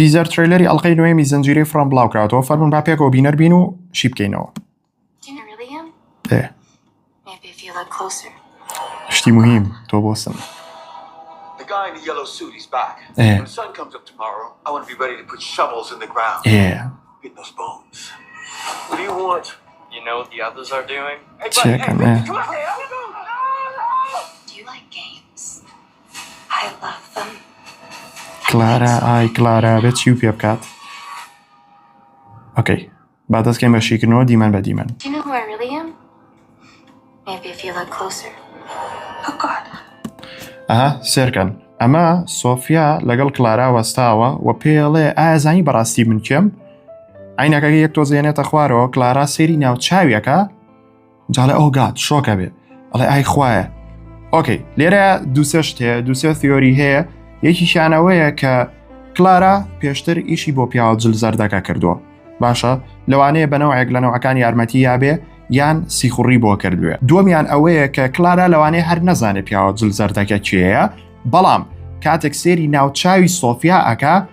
تیزەر ترەیلەری ئەڵقەی نۆیەمی زنجیرەی فڕۆم بڵاوکراوەتەوە فەرمون با پێکەوە بینەر بین و شی بکەینەوە شتی مهم تۆ بۆسم چێکەمێ کلارا ئای کلارا بێ چی و پێ بکات ئۆکەی با دەستکەین بە شیکردنەوە دیمەن بە دیمەن ئەها سێرکەن ئەمە سۆفیا لەگەڵ کلارا وەستاوە و پێڵێ ئازانی بەڕاستی من کێم ئاینەکەگە یەک تۆزێنێتە خوارەوە کلارا سێری ناوچاویەکە جاڵێ ئەو گات شۆکە بێ ئەڵێ ئای خوایە ئۆکەی لێرە دووسێشت هەیە دووسێ تیۆری هەیە یەکیشانەوەیە کە کلارا پێشتر ئیشی بۆ پیاوە جل زەردەکە کردووە باشە لەوانەیە بەنەوەێک لە نەوەکان یارمەتی یابێ یان سیخوڕی بۆ کردوێ دومیان ئەوەیە کە کلارا لەوانەیە هەر نەزانێت پیاوە جل زەردەکە چێە بەڵام کاتێک سێری ناوچوی سۆفیا ئەکا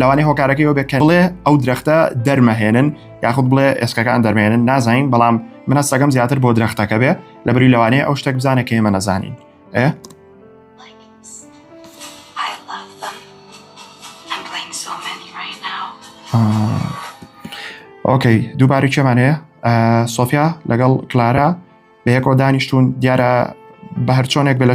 لەوانەیە هۆکارەکەی ئەو بێت کە بڵێ ئەو درەختە دەرمەهێنن یاخود بڵێ ئێسکەکان دەرمێنن نازانین بەڵام منە سەگەم زیاتر بۆ درەختەکە بێ لە بری لەوانەیە ئەو شتێک بزانە کە ئێمە نەزانین ئێ ئۆکەی دووباری چێمان هەیە سۆفیا لەگەڵ کلارا بەیەکۆ دانیشتون دیارە بە هەرچۆنێک بە لە